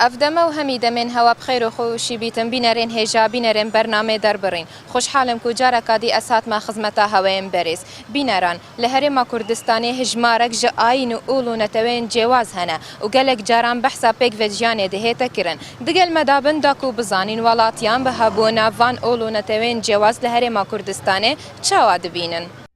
ئەڤ دەمە و هەمی دەمێن هەوا بخیر و خو شی بیتم بینەرێن هێژا بینەرێن بەرنامەێ دەر بڕین خوشحالم کو جارەکا دی ئەز هاتمە خزمەتا هەوەێم بەرێز بینەران لە هەرێما کوردستانێ هژمارەک ژە ئاین و ئوڵ و نەتەوەێن جێواز هەنە و گەلەک جاران بەحسا پێک ڤە ژیانێ دهێتە کرن دگەل مە دا بن دا کو بزانین وەڵاتیان بە هەبوونا ڤان ئوڵ و نەتەوەێن جێواز لە هەرێما کوردستانێ چاوا دبینن.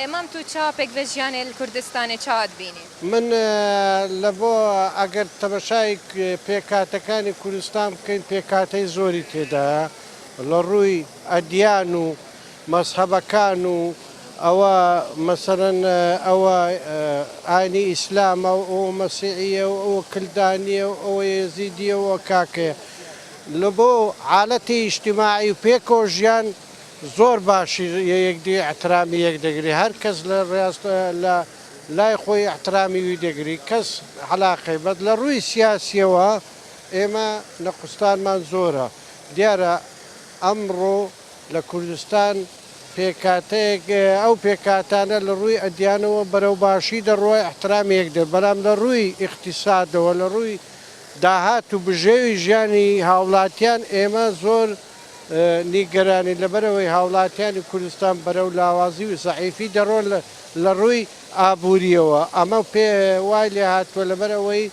ئێ مام تو چا پێک ڤە ژیانێل کوردستانێ چا ئەت بینێ؟ من لە بۆ ئەگەر تەمەشای پێکهاتەکانی کورستان بکەین پێکهاتەی زۆری تێدایە لە ڕووی ئەدیان و مەزهەبەکان و ئەوە مەسەلەن ئەوە ئاینی ئیسلامە و ئەوە مەسیعیە و ئەوە کلدانیە و ئەوە یەزیدیە و ئەوە کاکەیە لە بۆ عالەتی ئیجتماعی و پێکەوە ژیان زۆر باشی یەکدی ئیحترامی یەک دەگری هەر کەس لە ڕاست لە لای خۆی ئیحترامی وی دەگری کەس عەلاقەی بەس لە ڕووی سیاسیەوە ئێمە نەقوستانمان زۆرە دیارە ئەمڕۆ لە کوردستان پێکاتەیەک ئەو پێکاتانە لە ڕووی ئەدیانەوە بەرەو باشی دەڕوا ئیحترامی یەک دە بەلام لە ڕووی ئیقتیسادەوە لە ڕووی داهات و بژێوی ژیانی هاوڵاتیان ئێمە زۆر نیگەرانین لەبەرئەوەی هاوڵاتیانی کوردستان بەرەو لاوازی و زەعیفی دەڕۆن لە ڕووی ئابوورییەوە، ئەمە پێ وای لێهاتووە لەبەرئەوەی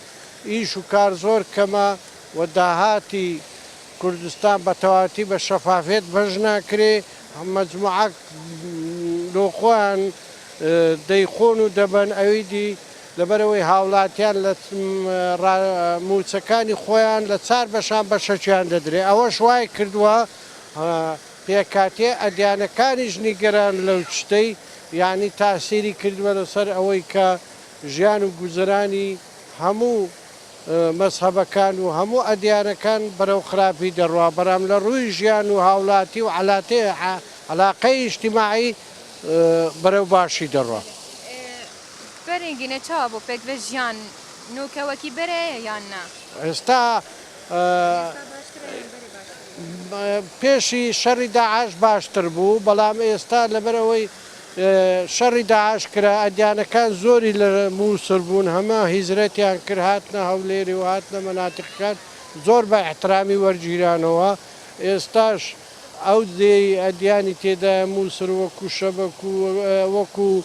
ئیش و کار زۆر کەمە و داهاتی کوردستان بە تەواوەتی بە شەفافیەت بەش ناکرێ، مەجموعەک لۆ خۆیان دەیخۆن و دەبەن ئەویدی لەبەرئەوەی هاوڵاتیان لە را مووچەکانی خۆیان لە چار بەشان بەشەکیان دەدرێ ئەوەش وای کردووە پێکهاتەی ئەدیانەکانیش نیگەران لەو چتەی یانی تاسیری کردووە لەسەر ئەوەی کە ژیان و گوزەرانی هەموو مەزهەبەکان و هەموو ئەدیانەکان بەرەو خراپی دەڕوا بەرام لە ڕووی ژیان و هاوڵاتی و عەلاتێ عەلاقەی ئیجتیماعی بەرەو باشی دەڕوا. بەرین گینە چاوە بۆ پێکڤە ژیان نۆکەوەکی بەرەیە یان نا؟ ئێستا پێشی شەڕی داعش باشتر بوو بەڵام ئێستا لەبەر ئەوەی شەڕی داعش کرا ئەدیانەکان زۆری لە مووسر بوون هەمە هیزرەتیان کرد هاتنە هەولێری و هاتنە مەناتقەکان زۆر بە ئەحترامی وەرگیرانەوە ئێستاش ئەو دێی ئەدیانی تێدایە موسر وەکوو شەبەک و وەکوو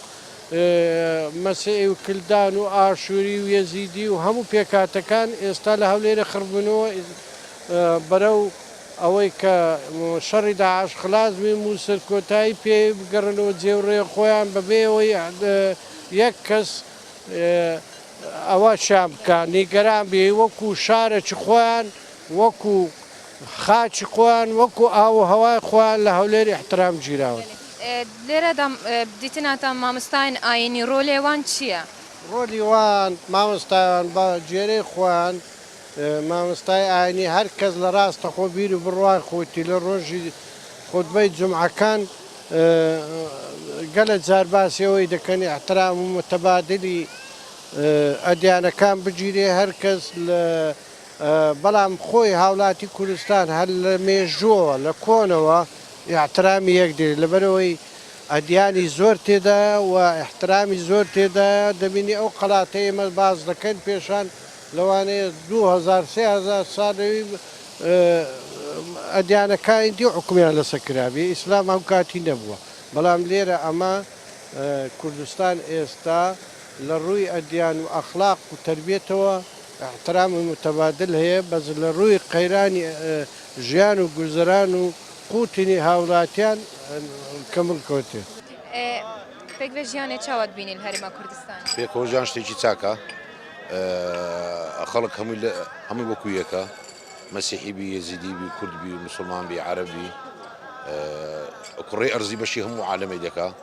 مەسیعی و کلدان و ئاشووری و یەزیدی و هەموو پێکهاتەکان ئێستا لە هەولێرێ خڕبوونەوە بەرەو ئەوەی کە شەڕی داعش خلاس بێ موسر کۆتایی پێ بگەڕێنەوە جێوڕێ خۆیان بەبێ ئەوەی یەک کەس ئەوە شیان بکا نیگەران بێ وەکوو شارەکی خۆیان وەکو خاکی خۆیان وەکو ئاو و هەوای خۆیان لە هەولێر ئیحترام گیراون. لێرەدا دیتناتان مامۆستایان ئاینی رۆلێ وان چیە؟ رۆلی وان، مامۆستایان بە گوێرەی خۆیان مامۆستای ئاینی هەر کەس لە راستەخۆ بیر و بڕوای خۆیتی لە رۆژی خوتبەی جومعەکان گەلە جار باسی ئەوەی دەکەن ئیحترام و متبادلی ئەدیانەکان بگیرێ هەر کەس لە بەڵام خۆی هاوڵاتی کوردستان هەر لە مێژووەوە لە کۆنەوە ئیحترامی یەک دەوێت لەبەرئەوەی ئەدیانی زۆر تێدایە و ئیحترامی زۆر تێدایە دەبینی ئەو قەلاتەی ئێمە باس دەکەین پێشان لەوانەیە دوو هەزار سێ هەزار ساڵەی ئەدیانەکانی دی حوکمیان لەسەر کرابێ ئیسلام ئەوکاتی نەبووە بەڵام لێرە ئەمە کوردستان ئێستا لە ڕووی ئەدیان و ئەخلاق و تەربیەتەوە احترام متبادل هەیە، بەس لە ڕووی قەیرانی ژیان و گوزەران و قوتینی هاوڵاتیان کەمل کەوتێ. پێک لە ژیانێ چا وە دبینی لە هەرێما کوردستان؟ پێکەوە ژیان شتێکی چاکە خەڵک هەمووی لە هەمووی وەکو یەکە مەسیحی بی یەزیدی بی کورد بی موسڵمان بی عەرەب بی کوڕەی ئەرزی بەشی هەموو عالەمێ دەکا.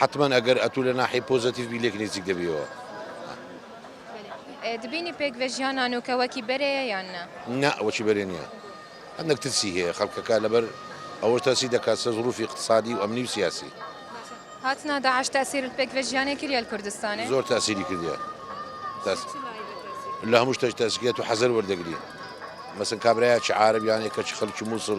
حەتمەن ئەگەر ئەتوو لە ناحیەی پۆزەتیڤ بی لێک نیزیک دەبیەوە. بەلێ دبینی پێک ڤە ژیان نانوکە وەکی بەرێیە یان نا؟ نا وەکی بەرێ نیە هەندەک ترسی هەیە خەلکەکە لەبەر ئەوەش ترسی دەکات سە زروفی اقتصادی و ئەمنی و سیاسی. هاتنە داعش تاسیر لە پێک ڤە ژیانێ کریە لە کوردستانێ؟ زۆر تاسیری کردیە تاس لە هەموو شتەک تاسیکە تو حەزەر وەردەگری مەسەن کابرایە چ عارەب یانێ کە چ خەلکی موسڵ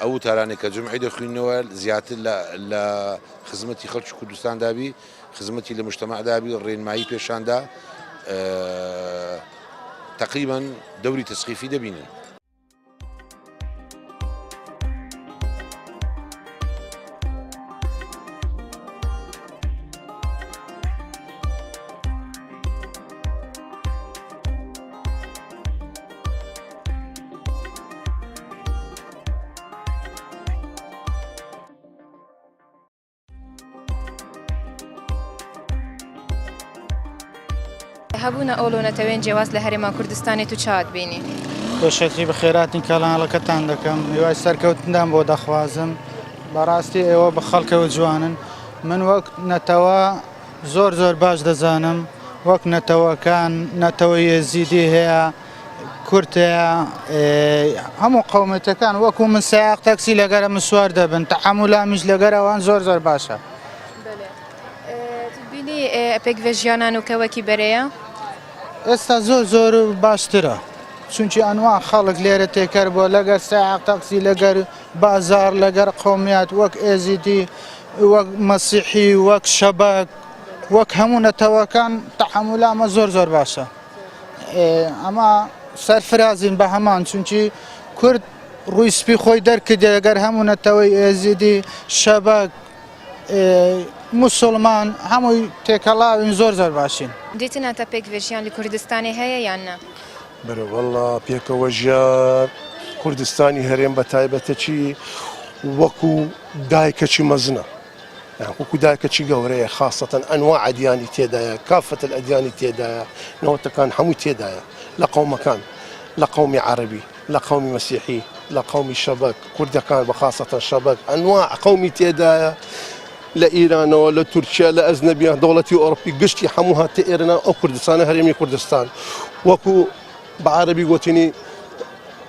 ئەو وتارانەی کە جمعی دەخوینەوە زیاتر لە خزمەتی خەڵکی کوردستان دابی خزمەتی لە مشتمە دابی ڕێنمایی پێشاندا تقریبان دەوری تەسقیفی دەبینن. هەبوونە ئەو لۆ نەتەوێن جیاواز لە هەرێما کوردستانی تو چاوت بینی خۆشەکی بە خێراتین کەڵانەکەتان دەکەم هیوای سەرکەوتندان بۆ دەخوازم بەڕاستی ئێوە بە خەڵکەوە جوانن من وەک نەتەوە زۆر زۆر باش دەزانم وەک نەتەوەکان نەتەوە یێزیدی هەیە کورتە هەموو قەومێتەکان وەکو من سایق تەکسی لەگەرە من سوار دەبن تەعامولامیش لەگەر ئەوان زۆر زۆر باشە بینی پێک بە ژیانان و کەوەکی بەرەیە ئێستا زۆر زۆر باشترە چونکی ئەنوا خەڵک لێرە تێکەر بۆ لەگەر سایق تەکسی لەگەر بازار لەگەر قومیات وەک ئێزیدی وەک مەسیحی وەک شەبەک وەک هەموو نەتەوەکان تەعامولامە زۆر زۆر باشە ئەمە سەرفرازین بە هەمان چونکی کورد ڕووی سپی خۆی دەرکردێ لەگەر هەموو نەتەوەی ئێزیدی شەبەک مسلمان هەمووی تێکەڵاوین زۆر زۆر باشین. دیتن هەتا پێک ڤێژیان لە کوردستانێ هەیە یان نا؟ برۆ وەڵا پێکەوە ژیان کوردستانی هەرێم بە تایبەتەکی وەکو دایکەکی مەزنە. وەکو دایکەکی گەورەیە خاسەتەن ئەنواع ئەدیانی تێدایە کافە الادیانی تێدایە نەوەتەکان هەمووی تێدایە لە قەومەکان لە قەومی عەربی لە قەومی مەسیحی لە قەومی شەبەک کوردەکان بە خاستەن شەبەک ئەنواع قەومی تێدایە لە ئیرانەوە لە تورکیا لە ئەزنەبیان دەوڵەتی ئۆرپی گشتی هەموو هاتە ئێرنا ئەو کوردستانە هەرێمی کوردستان وەکو بە عربی گوتنی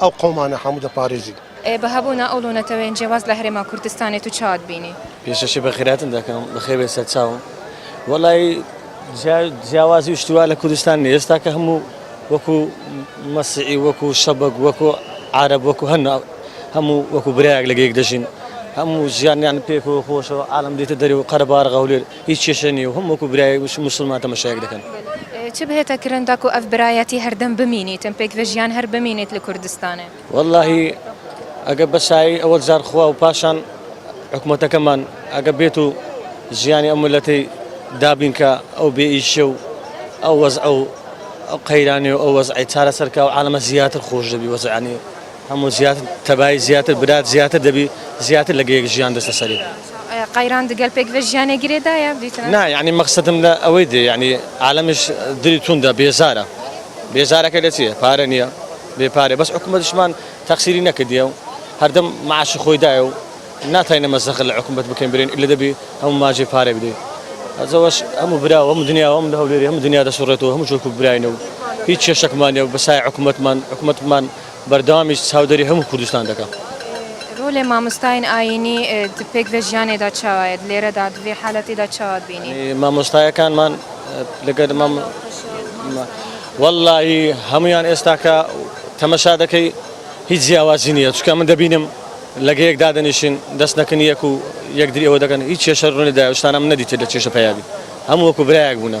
ئەو قەومانە هەموو دەپارێزین. ئێ بە هەبوونا ئەو لۆنە تەوێن جێ واز لە هەرێما کوردستانێ تو چاوت بینی. پێشەکی بە خیراتن دەکەم بە خێر بێ سەر چاوم وەڵای جیا جیاوازی و شتی وا لە کوردستان نیە ئێستا کە هەموو وەکو مەسیعی وەکو شەبەک وەکو عارەب وەکو هەن هەموو وەکو برایەک لەگەیەک دەژین هەموو ژیانیان پێکەوە خۆشەوە عالم دێتە دەرێ و قەرەباڵغ هەولێر هیچ کێشە نیە و هەم وەکو برای موسڵمان تەمەشایەک دەکەن. چ بهێتە کرن تاکو ئەڤ برایەتی هەردەم بمینیتن پێک ڤە ژیان هەر بمینیت لە کوردستانێ؟ وەڵاهی ئەگە بە سایەی ئەوەڵ جار خوا و پاشان حکومەتەکەمان ئەگە بێت و ژیانی ئەو ملەتەی دابین کە ئەو بێ ئیشە و ئەو وەزعە و ئەو قەیرانێ و ئەو وەزعەی چارەسەر کا و عالەمە زیاتر خۆش دەبی وەزعانی هەموو زیاتر تەبایی زیاتر برات زیاتر دەبی زیاتر لە گەیەک ژیان دەستە سەری. قەیران دگەل پێک ڤە ژیانێ گرێ دایە بیتنە؟ نا یانی مەقسەدم لە ئەوەی دێ یانی عالەمیش دری توندە بێزارە بێزارەکە لە چیە پارە نیە بێ پارە بەس حکومەتیشمان تەقسیری نەکردیە و هەردەم معاشی خۆی دایە و ناتاینە مەزەخە لە حکومەت بکەین برێن ئیلە دەبی هەموو ماجێ پارە بدەی ئەزەوەش هەموو برا و هەموو دنیا و هەموو لە هەولێری هەموو دنیا دەسوڕێتەوە هەموو چۆک و براینە و هیچ کێشەکمان نیە و بەسای حکومەتمان حکومەتمان بەردەوامیش چاودەری هەموو کوردستان دەکەم. رۆلێ مامۆستاین ئایینی د پێک ڤە ژیانێدا چاوایەد لێرەدا د ڤێ حالەتێدا چاواد بینی؟ مامۆستایەکانمان لەگەر مام وەڵلاهی هەموویان ئێستاکە تەمەشا دەکەی هیچ جیاوازی نییە چونکە من دەبینم لەگەیەک دادەنیشین دەست نەکن یەک و یەکدری ئەوە دەکەن هیچ کێشە رونی دایە شتانە من نەدیتە لە چێشە پەیابی هەموو وەکو برایەک بوونە.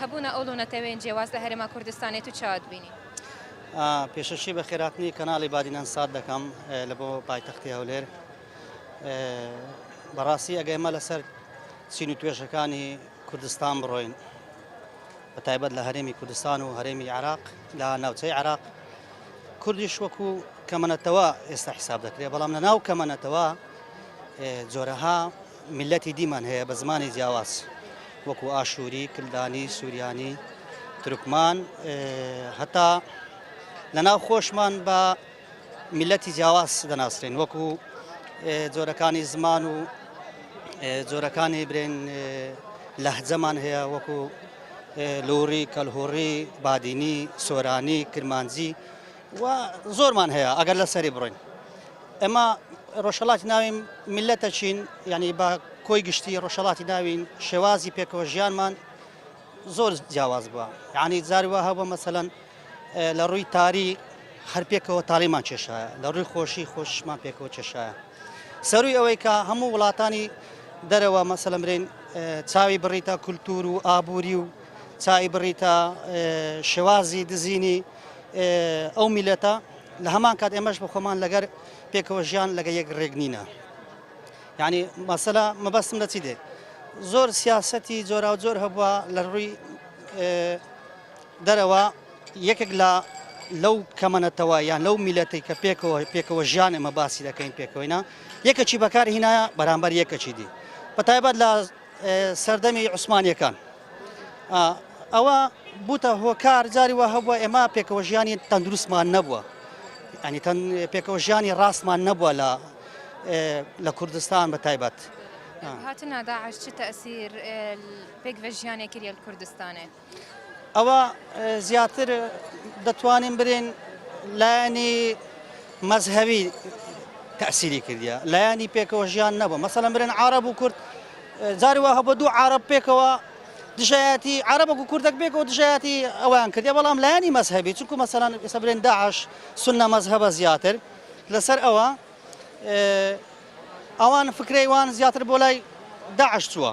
هەبوونە ئەو لونەتەوێن جێواز لە هەرێما کوردستانێت و چاوا دبینین؟ پێشەکی بە خێراتنی کەناڵی بادینان سات دەکەم لە بۆ پایتەختی هەولێر بەڕاستی ئەگە ئێمە لەسەر سین و توێژەکانی کوردستان بڕۆین بە تایبەت لە هەرێمی کوردستان و هەرێمی عراق لە ناوچەی عراق کوردیش وەکو کەمەەتەوە ئێستا حساب دەکرێت بەڵام لە ناو کەمەەتەوە جۆرەها میللەتی دیمان هەیە بە زمانی جیاواز وەکو ئاشووری، کلدانی، سوریانی، تورکمان هەتا لەناو خۆشمان بە میللەتی جیاواز دەناسرێن وەکو جۆرەکانی زمان و جۆرەکانی برێن لەهجەمان هەیە وەکو لوڕی، کەلهوڕی، بادینی، سۆرانی، کرمانجی، وە زۆرمان هەیە ئەگەر لە سەری بڕۆین ئێمە ڕۆژهەڵاتی ناوین میلەتەچین یعنی بە کۆی گشتی ڕۆژهڵاتی ناوین شێوازی پێکەوە ژیانمان زۆر جیاواز بووە یعنی زاروە هەبوو مەسەەن لە ڕووی تاری هەر پێکەوە تاڵیمان کێشایە لە ڕووی خۆشی خۆشمان پێکەوە کێشایە سەروی ئەوەی کە هەموو وڵاتانی دەرەوە مەسەلمرین چاوی بڕیتە کولتور و ئابووری و چای بڕیتە شێوازی دزینی ئەو میلەتە لە هەمان کات ئێمەش بە خۆمان لەگەر پێکەوە ژیان لەگە یەک ڕێک نینە یعنی مەسەلا مەبەستم لە چی دێ زۆر سیاستی جۆرا و جۆر هەبووە لە ڕووی دەرەوە یەکێک لە لەو کەمەنەتەوە یان لەو میلەتی کە پێکەوە پێکەوە ژیان ئمە باسی دەکەین پێکەوەینا یەکەچی بەکار هینایە بەرامبەر یەکەچی دی بەتایبەت لە سەردەمی عوسمانیەکان ئەوە بوتە هۆکار جاری وە هەبووە ئێمە پێکەوە ژیانی تەندروستمان نەبووە ئەنی تەن پێکەوە ژیانی ڕاستمان نەبووە لە لە کوردستان بە تایبەت هاتنە داعش چ تەسیر پێک بە ژیانێکی لە کوردستانێ ئەوا زیاتر دەتوانین برێن لایەنی مەزهەوی تەسیری کردە لایەنی پێکەوە ژیان نەبە مەسەلە برێن عرب و کورد جاری وە هەبە دوو عرب پێکەوە دژایەتی عربە و کوردەک بێک و دژایەتی ئەویان کردی بەڵام لایەنی مەزهبی چونکو مەسەلان ئێستا برێن داعش سنە مەزهبە زیاتر لەسەر ئەوە ئەوان فکرەیوان زیاتر بۆ لای داعش چووە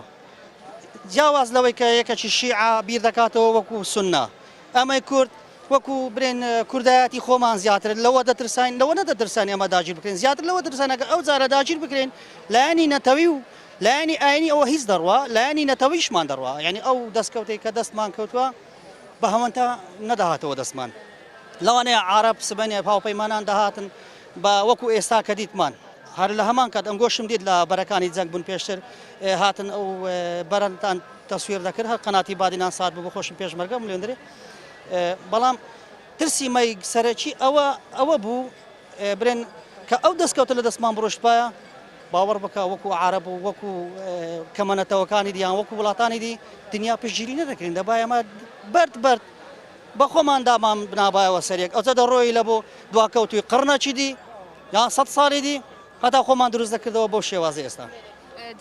جیاواز لەوەی کە یەکەکی شیعە بیر دەکاتەوە وەکو سوننە، ئێمەی کورد وەکو برێن کوردایەتی خۆمان زیاتر لەوە دەترساین، لەوە نەدەترساین ئێمە داگیر بکرێن، زیاتر لەوە دەترساین ئەگەر ئەو جارە داگیر بکرێین لایەنی نەتەوی و لایەنی ئاینی ئەوە هیچ دەڕوا لایەنی نەتەویشمان دەڕوا، یانی ئەو دەستکەوتەی کە دەستمان کەوتووە بە هەوەنتا نەدەهاتەوە دەستمان، لەوانەیە عارەب سبەینێ هاوپەیمانان دەهاتن با وەکو ئێستا کە دیتمان هەر لە هەمان کات ئەنگۆشم دیت لە بەرەکانی جەنگ بوون پێشتر هاتن ئەو بەرەتان تەسویر دەکرد هەر قەناتی بادینان سات بوو بەخۆشم پێشمەرگە ملێندرێ بەڵام ترسی مای سەرەکی ئەوە ئەوە بوو برێن کە ئەو دەستکەوتە لە دەستمان بڕشتپایە باوەڕ بکە وەکو عرب و وەکو کەمەنەتەوەکانی دیان وەکو وڵاتانی دی دنیا پشگیری نەدەکرین دەبایەمە بەرد بەرد بەخۆمان دامان بنابایەوە سەریەک ئەوجە دەڕۆی لە بۆ دواکەوتوی قڕنەکی دی یان سەد ساڵی دی هەتا خۆمان دروست دەکردەوە بەو شێوازی ئێستا.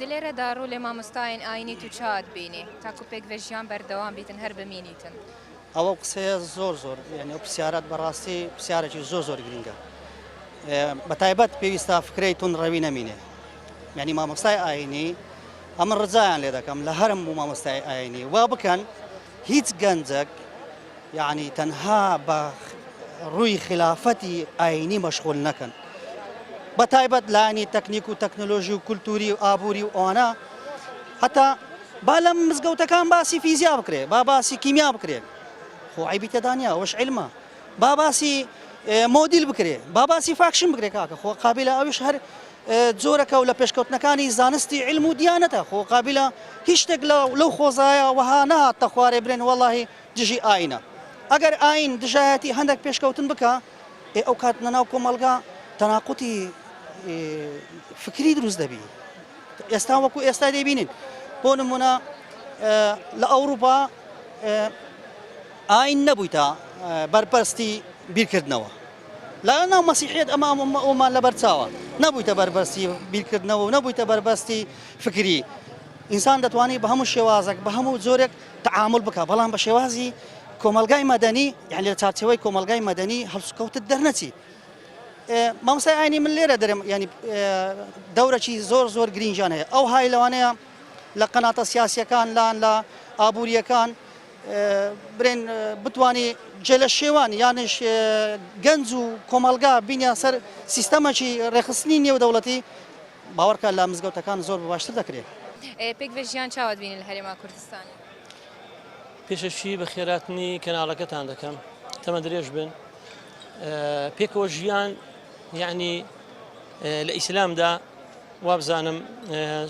دلێرەدا ڕوو لێ مامۆستایین ئاینیت و چاوت بینی تاکو پێک ڤە ژیان بەردەوام بیتن هەر بمینیتن. ئەوە قسەیە زۆر زۆر یانی ئەو پرسیارەت بەڕاستی پرسیارێکی زۆر زۆر گرینگە بە تایبەت پێویستە فکرەی تون ڕەوی نەمینێ یعنی مامۆستای ئاینی ئەمە ڕزایان لێ دەکەم لە هەرم بوو مامۆستای ئاینی وا بکەن هیچ گەنجەک یەعنی تەنها بە ڕووی خیلافەتی ئاینی مەشغول نەکەن بە تایبەت لانی تەکنیک و تەکنۆلۆژی و کولتوری و ئابووری و ئەوانە هەتا با لە مزگەوتەکان باسی فیزیا بکرێ با باسی کیمیا بکرێت خۆ عیبی تێدانیا وەش علمە با باسی مۆدیل بکرێ با باسی فاکشن بکرێ کاکە خۆ قابلە ئەوش هەر جۆرەکە و لە پێشکەوتنەکانی زانستی علم و دیانەتە خۆ قابلە هیچ شتێک لەو خۆزایە وەها نەهات تە خوارێ برێن وەڵی دژی ئاینە ئەگەر ئاین دژایەتی هەندێک پێشکەوتن بکە ئێ ئەو کات نەناو کۆمەلگا تەناقوتی فکری دروست دەبی ئێستا وەکو ئێستا دەبینین بۆ نمونە لە ئەوروپا ئاین نەبویتە بەرپەرستی بیرکردنەوە لە ناو مەسیحیەت ئەمە ئەومان لەبەر چاوە نەبویتە بەربەستی بیرکردنەوە و نەبویتە بەربەستی فکری ئینسان دەتوانانی بە هەموو شێوازێک بە هەموو جۆرێک تعامل بکە بەڵام بە شێوازی کۆمەلگای مەدەنی یان لە چارچەوەی کۆمەلگای مەدەنی هەڵسوکەوتت دەرنەچی مامسای ئاینی من لێرە دەرم ینی دەورەی زۆر زۆر گرینجان هەیە ئەو های لەوانەیە لە قەناتە سیاسیەکان لان لە ئابوووریەکان برێن بتوانی جێلە شێوان یانش گەنج و کۆمەلگا بینیان سەر سیستەمەکی ڕێخستنی نێودەوڵەتی باوەڕکە لە مزگەوتەکان زۆر باشتر دەکرێت. پێک بە ژیان چاوت بینی لە هەرێما کوردستانی. پێشەکی بە خێراتنی کەناڵەکەتان دەکەم تەمە درێژ بن پێکەوە ژیان یعنی لە ئیسلامدا وابزانم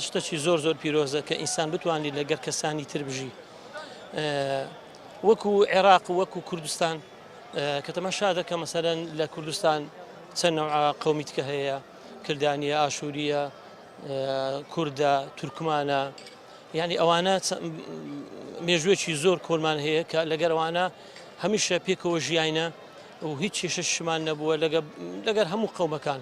شتەکی زۆر زۆر پیرۆزە کە ئینسان بتوانانی لەگەر کەسانی تر بژی وەکو عێراق وەکو کوردستان کە تەماشا دەکە مەسەرەن لە کوردستان چەند قومیتکە هەیە کردانە ئاشووریە کووردە تورکمانە یعنی ئەوانە مێژوێکی زۆر کۆلمان هەیە کە لەگەروانە هەمیشە پێکەوە ژیاینە و هیچ کێشەشمان نەبووە لەگەر هەموو قەومەکان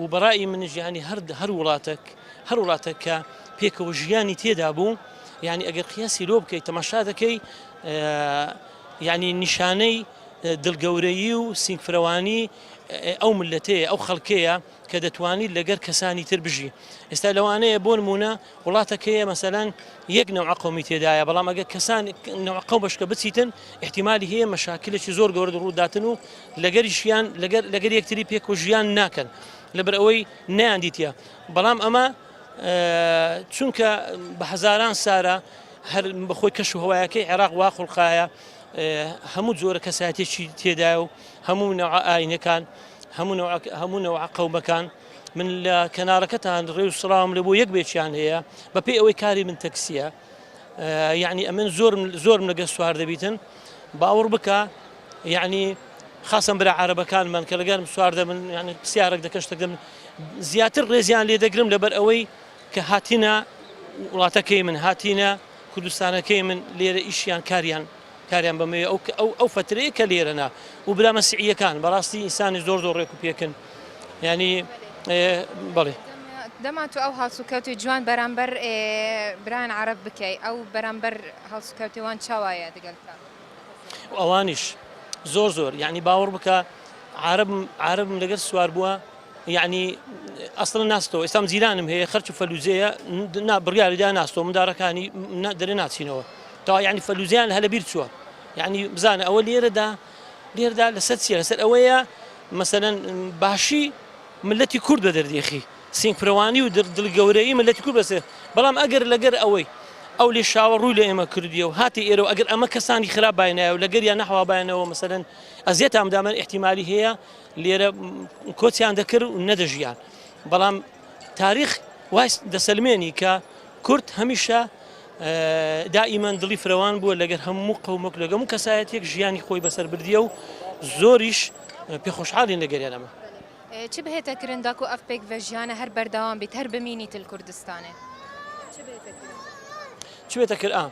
و بەڕای منش یعنی هەر هەر وڵاتێک هەر وڵاتێک کە پێکەوە ژیانی تێدا بوو یعنی ئەگەر قیاسی لۆ بکەیت تەماشا دەکەی یعنی نیشانەی دڵگەورەیی و سینگفرەوانی ئەو ملەتەیە ئەو خەڵکەیە کە دەتوانیت لەگەر کەسانی تر بژی ئێستا لەوانەیە بۆ نمونە وڵاتەکەیە مەسەلەن یەک نەوعە قەومی تێدایە بەڵام ئەگەر کەسان نەوع قەو بەشکە بچیتن احتیمالی هەیە مەشاکلێکی زۆر گەورە ڕووداتن و لەگەریشیان لەگەر لەگەر یەکتری پێک و ژیان ناکەن لەبەر ئەوەی نیان دیتە بەڵام ئەمە چونکە بە هەزاران سارە هەر بەخۆی کەش و هەوایەکەی عێراق وا خوڵقایە هەموو جۆرە کەساتێکی تێدایە و هەموو نەوە ئاینەکان هەموو هەموو نەوە قەومەکان من لە کەنارەکەتان ڕێ و سڵاوم لە بۆ یەک بێکیان هەیە بەپێی ئەوەی کاری من تەکسیە یعنی ئەمن زۆر زۆرم لەگە سوار دەبیتن باوەڕ بکە یعنی خاصم برا عربەکان من کە لەگەرم سوار دەبن یعنی پرسیارێک دەکەشتە دەم زیاتر ڕێزیان لێ دەگرم لەبەر ئەوەی کە هاتینە وڵاتەکەی من هاتینە کوردستانەکەی من لێرە ئیشیان کاریان کاریان بەمەیە ئەو ئەو ئەو فترەیە کە لێرەنا و برا مەسیعیەکان بەڕاستی ئینسانی زۆر زۆر ڕێک و پێکن ینی بڵێ دەما تو ئەو هاوسوکەوتی جوان بەرامبەر بران عرب بکەی ئەو بەرامبەر هەڵسوکەوتێوان چاوایە دەگەل ئەوانیش زۆر زۆر یعنی باوەڕ بکە عرب عربم لەگەر سوار بووە یەعنی ئەسڵەن ناستەوە ئێستام جیرانم هەیە خەرچ و فەلوجەیە نا بڕیاری دا ناستەوە مندارەکانی دەرێ ناچینەوە تا یعنی فەلوجیان هەلە بیر چووە یعنی بزانە ئەوە لێرەدا لێردا لەسەر چیە لەسەر ئەوەیە مەسەەن باشی ملەتی کورد بە دەردێخی سینگپرەوانی و دڵ گەورەی ملەتی کورد بەسێ بەڵام ئەگەر لەگەر ئەوەی ئەو لێ شاوە ڕووی لە ئێمە کردیە و هاتی ئێرە و ئەگەر ئەمە کەسانی خراپ باینایە و لەگەر یا نەحوا باینەوە مەسەن ئەزیێت ئامدامەن احتیممالی هەیە لێرە کۆچیان دەکرد و نەدەژیان بەڵام تاریخ وای دەسەلمێنی کە کورد هەمیشە دائیمان دڵی فرەوان بووە لەگەر هەموو قەومەک لەگەم و کەسایەتێک ژیانی خۆی بەسەر بردیە و زۆریش پێخۆشحاڵین لە گەریانەمە چ بهێتە کرنداکو ئەف پێک بە ژیانە هەر بەردەوام بیت هەر بمینی تل کوردستانێ چ بێتە کرد ئا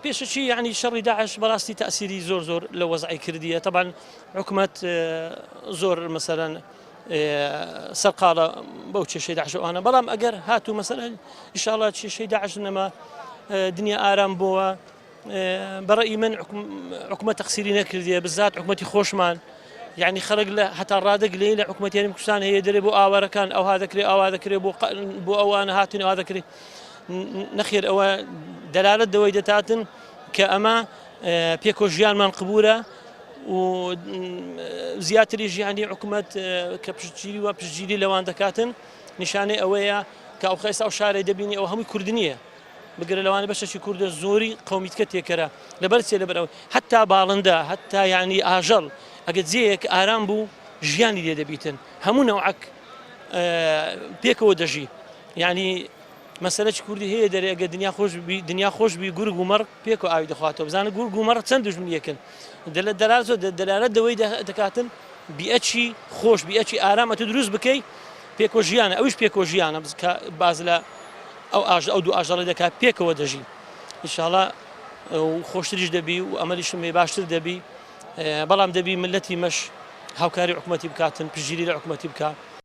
پێشەکی یانی شەڕی داعش بەڕاستی تاسیری زۆر زۆر لە وەزعی کردیە تەبان حکومت زۆر مەسەرەن سەرقاڵە بەو چێشەی داعشەوانە بەڵام ئەگەر هاتوو مەسەر ئیشاڵە چێشەی داعش نەما دنیا ئارام بووە بەڕی من حکومە تەقسیری نەکردیە بزات حکومەتی خۆشمان یعنی خەرک لە هەتا ڕادەگلێ لە حکوومەتیانی کوردستان هەیە دەرێ بۆ ئاوارەکان ئەوها دەکرێت ئاوا دەکرێت بۆ بۆ ئەوانە هاتن ئەوا دەکرێت نەخێر ئەوە دەلالەت دەوەی دەتاتن کە ئەمە پێکۆ ژیانمان قبورە و زیاتری ژیانی حکوومەت کە پشتگیری و پشتگیری لەوان دەکاتن نیشانەی ئەوەیە کە ئەو خێستا و شارەی دەبینی ئەو هەمووی کورد نییە بگرە لەوانە بەشەکی کوردە زۆری قومیتکە تێکەرە لەبەر چێ لەبەرەوە هەتا باڵندە هەتا یانی ئاژەڵ ئەگە جێیەک ئارام بوو ژیانی لێ دەبیتن هەموو نەوعک پێکەوە دەژی ینی مەسەلە چ کوردی هەیە دەرێ ئەگەر دنیا خۆش بی دنیا خۆش بی گورگ و مەڕ پێک و ئاوی دەخواتەوە بزانە گورگ و مەڕ چەند دژمن یەکن دەلە دەلار زۆر دەلارە دەوەی دەکاتن بیئەچی خۆش بیئەچی ئارامە تو دروست بکەی پێکۆ ژیانە ئەوش پێکۆ ژیانە کە باز لە ئەو ئاژ ئەو دوو ئاژەڵی دەکات پێکەوە دەژی انشاءڵە خۆشتریش دەبی و ئەمەریشم لێ باشتر دەبی بەڵام دەبی ملەتی مەش هاوکاری حکوومەتی بکاتن پژیری لە حکوومەتی بکە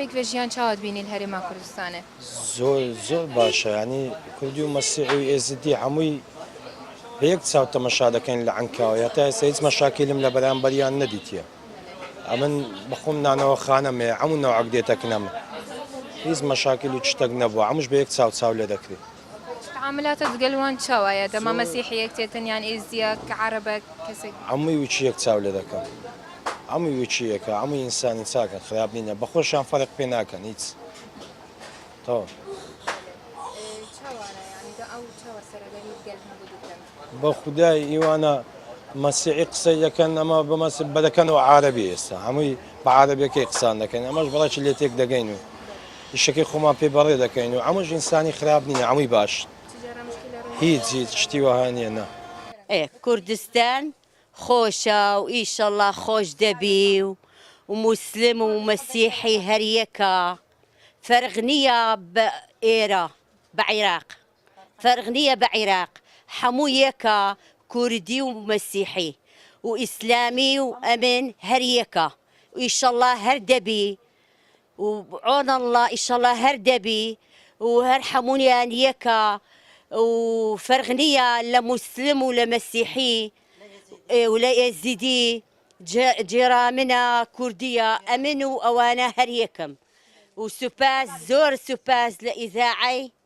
پێک لە ژیان چاوت بینین هەرێما کوردستانێ زۆر زۆر باشە ینی کوردی و مەسیحی و ئێزدی هەمووی بەیەک چاو تەمەشا دەکەین لە ئەنکاوە هەتا ئێستا هیچ مەشاکیلم لە بەرامبەریان نەدیتە ئەمن بخۆم نانەوە خانەمێ ئەمو ناوعک دێتەکنەمە هیچ مەشاکیل و شتێک نەبووە ئەمش بە یەک چاو چاو لێ دەکرێت تەعاملاتە دگەل وان چاو ئایە دە مە مەسیحیەک تێ تن یان ئێزدیەک کە عارەبەک کەسێک. عەموی وچیەک چاو لێ دەکەم. عەموی وچیەکە عەموی ئینسانی چاکن خراپ نینە بەخۆشیان فەرق پێ ناکەن هیچ تەواو. چاوانە یانی دە ئەو چاوە سەرەگەری دگەل هەموو دگەل. بە خودای ئیوانە مەسیحی قسەی دەکەن ئەمە بەمەس بەدەکەن و عربی ئێستا هەمووی بە عربەکەی قسان دەکەن ئەمەش بەڵێکی لێ تێک دەگەین و ئیشەکەی خۆمان پێ بەڕێ دەکەین و ئەمەش ئینسانی خراپ نیە ئەمووی باش هیچ هیچ شتی وەها نیە نە کوردستان خۆشە و ئیشەڵا خۆش دەبی و و موسلم و مەسیحی هەر یەکە فەرق نیە بە ئێرە بە عیراق. فەرق نیە بە عیراق حەموو یەکە کوردی و مەسیحی و ئیسلامی و ئەمن هەر یەکە ئیشەڵا هەر دەبی و عۆن اللە ئیشەڵا هەر دەبی و هەر حەموویان یەکە و فەرق نیە لە موسلم و لە مەسیحی و لە ئێزیدی جێرا منە کوردیە ئەمن و ئەوانە هەر یەکەم و سوپاس زۆر سوپاس لە ئیزاعەی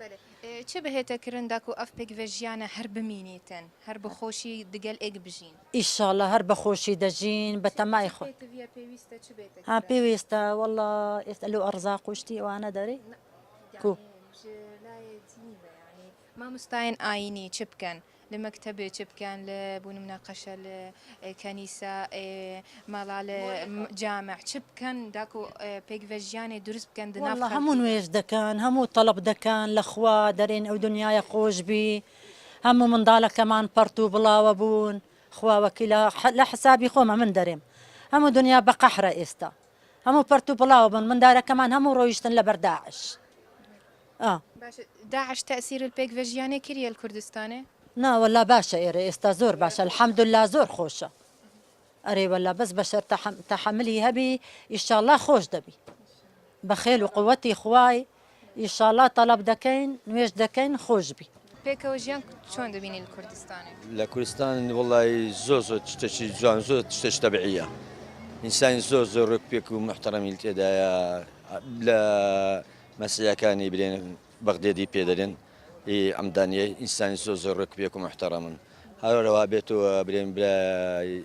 بەلێ چێ بهێتە کرن داکو ئەڤ پێکڤە ژیانە هەر بمینیتن هەر بە خۆشی دگەل ئێگ بژین. ئیشاڵا هەر بە خۆشی دەژین بە تەمای خۆ. چی پێکڤە پێویستە چ بێتە کرن. ها پێویستە وەڵا ئێستا لەو ئەڕزاق و شتی ئەوانە دەرێ کو. یانێ ژ لایێ چ نیڤە یانی ماموستایێن ئایینی چ بکەن لە مەکتەب چ بکەن لە بوون مناقەشە لە کەنیسە مەڵا لە جامع چ بکەن داکو پێک بە ژیانێ دروست بکەن دڵە هەموو نوێژ دەکەن هەموو تەڵب دەکەن لەخوا دەرێن ئەو دنیاە خۆش بی هەموو منداڵەکەمان پەڕت و بڵاوە بوون خواوەکیلا لە حسابی خۆمە من دەرێم هەموو دنیا بە قەحرە ئێستا هەموو پەرت و پڵاو بوون مندارەکەمان هەموو ڕۆیشتن لە بەر داعش ئا. باشە داعش تاسیر الپێک ڤە ژیانێ کریە ال کوردستانێ؟ نا وەلا باشە ئێرە ئێستا زۆر باشە الحمداللە زۆر خۆشە ئەرێ وەلا بەس بەشەر تەحەملی هەبی ئیشاڵا خۆش دەبی بە خێل و قوەتی خوای. ئیشاڵا تەڵەب دەکەین نوێژ دەکەین خۆش بی. پێکەوە ژیان چۆن دەبینی لە کوردستان؟ لە کوردستان وەڵایی زۆر زۆر شتەکی جوان زۆر شتەکی تەبعیە ئینسانی زۆر زۆر ڕێک پێک و محتەڕەمیل تێدایە لە مەسیحەکانی برێن بەغدێدی پێدەرێن ئەمدانیە ئینسانی زۆر زۆر ڕێک پێک و محتەڕەمن هەرەوە بێتەوە برێن برای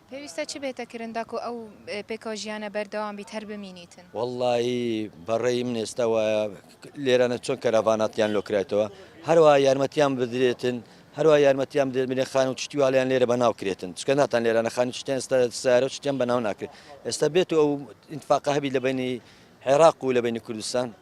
پێویستە چ بێتە کرن داکو ئەو پێکەوە ژیانە بەردەوام بیت هەر بمینیتن. وەڵاهی بە ڕێی من ئێستا وایە لێرانە چۆن کەرەڤاناتیان لۆ کرایتەوە هەروا یارمەتیان بدرێتن هەروا یارمەتیان بدرێت منێ خان و چشتی والیان لێرە بە ناو کرێتن چکە ناتان لێرانە خانی چتیان ئێستا سارە و چتیان بە ناو ناکرێت ئێستا بێت و ئەو ئینتفاقە هەبی لە بینی عێراق و لە بینی کوردستان